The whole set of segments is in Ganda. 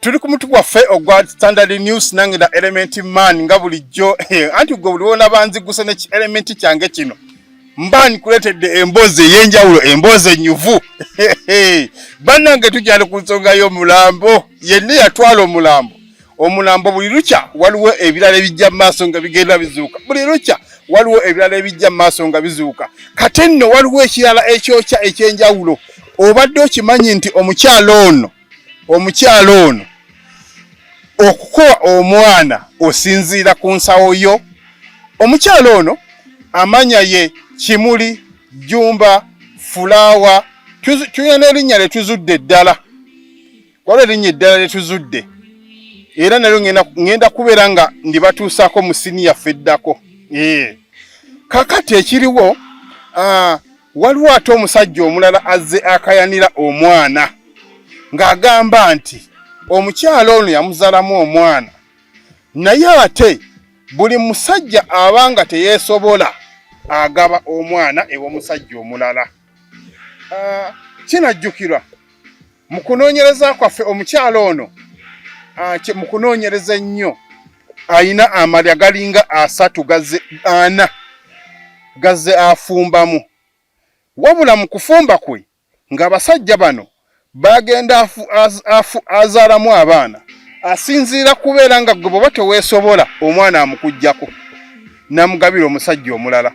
tuli ku mutu gwaffe ogwa standard news nange na element man nga bulijjo eh, anti gwe buli wona banziguse ne element kyange kino mba nkuletedde emboozi ey'enjawulo emboozi enyuvu bannange tukyali ku nsonga y'omulambo yenna yatwala omulambo omulambo buli lukya waliwo ebirala ebijja mu maaso nga bigenda bizuuka buli lukya waliwo ebirala ebijja mu maaso nga bizuuka kate nno waliwo ekirala ekyokya eky'enjawulo obadde okimanyi nti omukyalo ono omukyala ono okukowa omwana osinziira ku nsawo yo omukyala ono amanya ye kimuli jumba fulaawa tulina n'erinnya lye tuzudde eddala waliwo erinnya eddala lye tuzudde era nalyo ŋŋenda kubeera nga ndibatuusaako mu siniya feddako kakati ekiriwo ah, Waliwo ate omusajja omulala azze akayanira omwana ng'agamba nti omukyala ono yamuzalamu omwana naye ate buli musajja aba nga teyeesobola agaba omwana ew'omusajja omulala ah, kinajjukirwa Mu kunoonyereza kwaffe omukyala ono ah, mu kunoonyereza ennyo alina amalya galinga asatu gaze ana gaze afumbamu wabula mu kufumba kwe ng'abasajja bano bagenda azaalamu abaana asinziira kubeera nga gwe bwoba teweesobola omwana amukuggyako namugabira omusajja omulala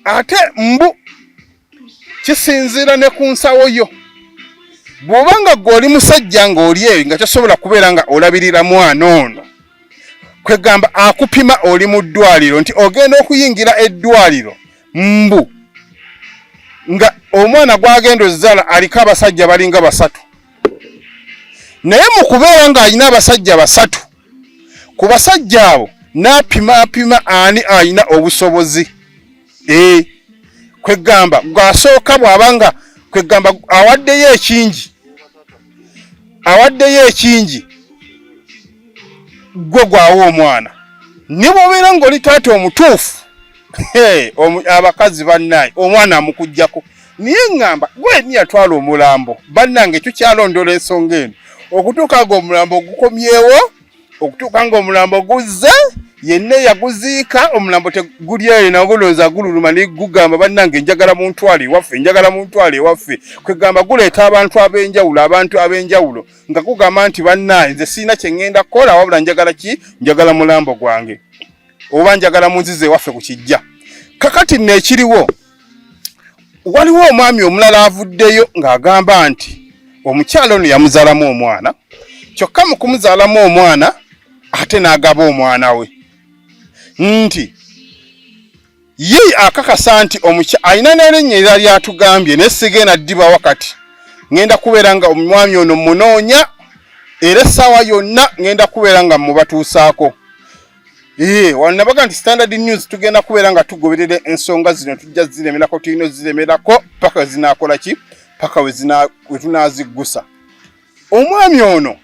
ate mbu kisinziira ne ku nsawo yo bw'oba nga gwe oli musajja ng'oli eyo nga kyosobola kubeera nga olabirira mwana ono kwegamba akupima oli mu ddwaliro nti ogenda okuyingira eddwaliro mbu nga omwana gwagenda ozaala aliko abasajja balinga basatu naye mu kubeera ng'alina abasajja basatu ku basajja abo n'apima apima ani alina obusobozi eh, kweggamba gwasooka bw'aba nga kweggamba awaddeyo ekingi awaddeyo ekingi gwe gwawo omwana ne bwobeera ng'oli taata omutuufu abakazi bannaye omwana amukujjako naye ŋŋamba gwe ni yatwala omulambo bannange tukyalondoola ensonga eno okutuuka nga omulambo ogukomyewo okutuuka ng'omulambo guzze yenna eyaguziika omulambo teguli eyo nagulonza gululuma negugamba bannange njagala muntwale ewaffe njagala muntwale ewaffe kwegamba guleeta abantu ab'enjawulo abantu ab'enjawulo nga gugamba nti bannaye nze sirina kye ŋŋenda kukola wabula njagala ki njagala mulambo gwange oba njagala munziza ewaffe ku kijja kakati nno ekiriwo waliwo omwami omulala avuddeyo ng'agamba nti omukyala ono yamuzaalamu omwana kyokka mu kumuzaalamu omwana ate n'agaba omwana we nti ye akakasa nti omukya alina n'erinnya era lyatugambye naye sigenda ddiba wakati ŋŋenda kubeera nga omwami ono munoonya era essaawa yonna ŋŋenda kubeera nga mubatuusaako Ee, eh, wanabaga nti standard news tugenda kubeera nga tugoberera ensonga zino tujja ziremerako tulina oziremerako paka zinakola ki paka wetunaziggusa omwami ono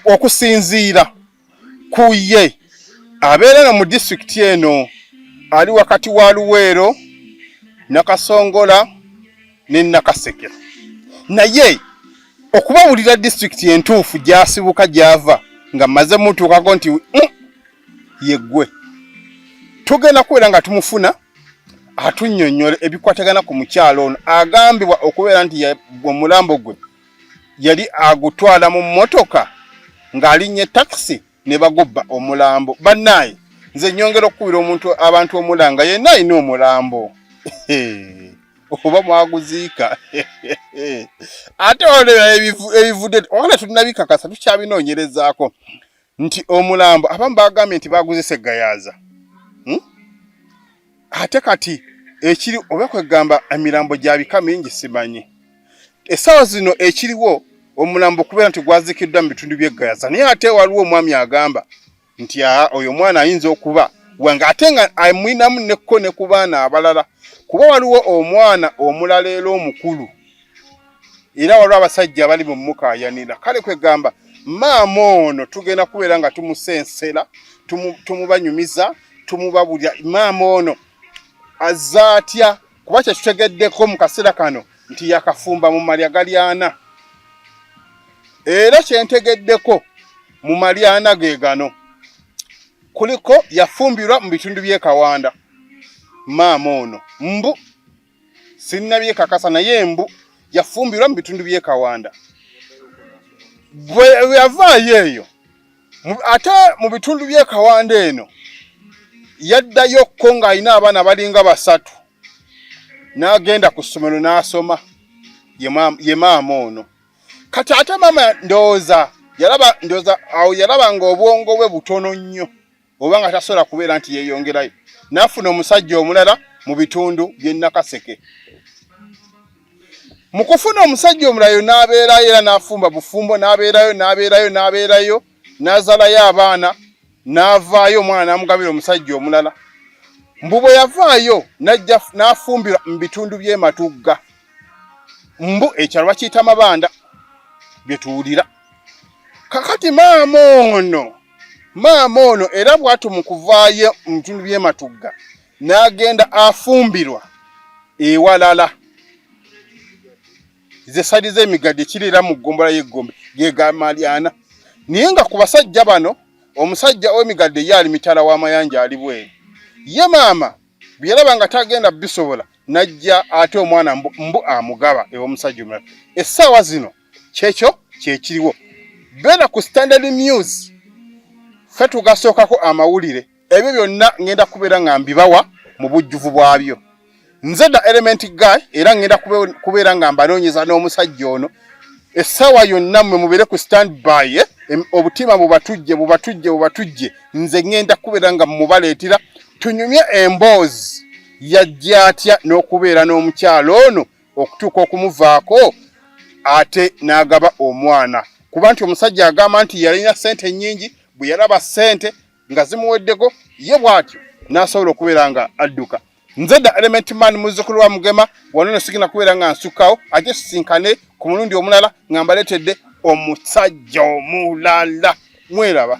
okusinziira ku ye abeera nga mu disitulikiti eno ali wakati wa luweero nakasongola ne Nakasekera naye okubawulira district entuufu gyasibuka gyava nga maze mutuukako nti mm, yeggwe tugenda kubeera nga tumufuna atunyonyola ebikwatagana ku mukyalo ono agambibwa okubeera nti omulambo gwe yali agutwala mu mmotoka ng'alinnya takisi ne bagobba omulambo bannaye nze nyongera okukubira omuntu abantu omulanga yenna alina omulambo oba mwaguziika ate olera ebivudde oona tulinabikakasa tukyabinoonyerezaako nti omulambo abamu bagambye nti baguziisa eggayaaza hmm? ate kati ekiri oba kwegamba emirambo gya bika mingi simanyi essaawa zino ekiriwo omulambo okubeera nti gwazikiddwa mu bitundu by'e gayaza naye ate waliwo omwami agamba nti aa oyo omwana ayinza okuba wange ate nga amwinamu nekko ne ku baana abalala kuba waliwo omwana omulala era omukulu era waliwo abasajja abali mu mukaayanira kale kwegamba maama ono tugenda kubeera nga tumusensera tumubanyumiza tumuba bulya maama ono azze atya kuba kyetutegeddeko mu kaseera kano nti yakafumba mu malya galyana era kyentegeddeko mu malyana ge gano kuliko yafumbirwa mu bitundu by'e kawanda maama ono mbu sinnabye kakasa naye embu yafumbirwa mu bitundu by'e Kawanda bwe yavaayo eyo ate mu bitundu by'e Kawanda eno yaddayo ko ng'alina abaana balinga basatu n'agenda ku ssomero n'asoma ye maama ono kati ate maama ndowooza yalaba ndowooza awo yalaba ng'obwongo bwe butono nnyo oba nga tasobola kubeera nti yeeyongerayo n'afuna omusajja omulala mu bitundu by'e Nakaseke. Mu kufuna omusajja omulayo n'abeerayo era n'afumba bufumbo n'abeerayo n'abeerayo n'abeerayo n'azalayo abaana n'avaayo omwana n'amugabira omusajja omulala. Mbu bwe yavaayo n'ajja n'afumbirwa mu bitundu by'e Matugga. Mbu ekyalo bakiyita Mabanda bye tuwulira. Kakati maama ono Maama ono era bw'atyo mu kuvaayo mu bitundu by'e Matugga n'agenda afumbirwa ewalala ze sali z'emigadde kirera mu ggombolola y'eggombe ge ga Malyana naye nga ku basajja bano omusajja ow'emigadde ye ali mitala w'amayanja ali bweru ye maama byalaba nga tagenda bisobola najja ate omwana mbu amugaba ew'omusajja omulala essaawa zino kyekyo kyekiriwo beera ku standard news fe tugasookako amawulire ebyo byonna ngenda kubeera nga mbibawa mu bujjuvu bwabyo nze da element guy era ngenda kubeera nga mbanoonyeza n'omusajja ono essaawa yonna mwe mubeere ku stand by eh? obutima bubatujje bubatujje bubatujje nze ngenda kubeera nga mubaleetera tunyumye emboozi yajja atya n'okubeera n'omukyalo ono okutuuka okumuvaako ate n'agaba omwana kuba nti omusajja agamba nti yalina sente nyingi bwe yalaba sente nga zimuweddeko ye bwatyo n'asobola okubeera nga adduka nze da element man muzzukulu wa mugema wano no sigina kubeera nga nsukkawo ate sisinkane ku mulundi omulala nga mbaleetedde omusajja omulala mweraba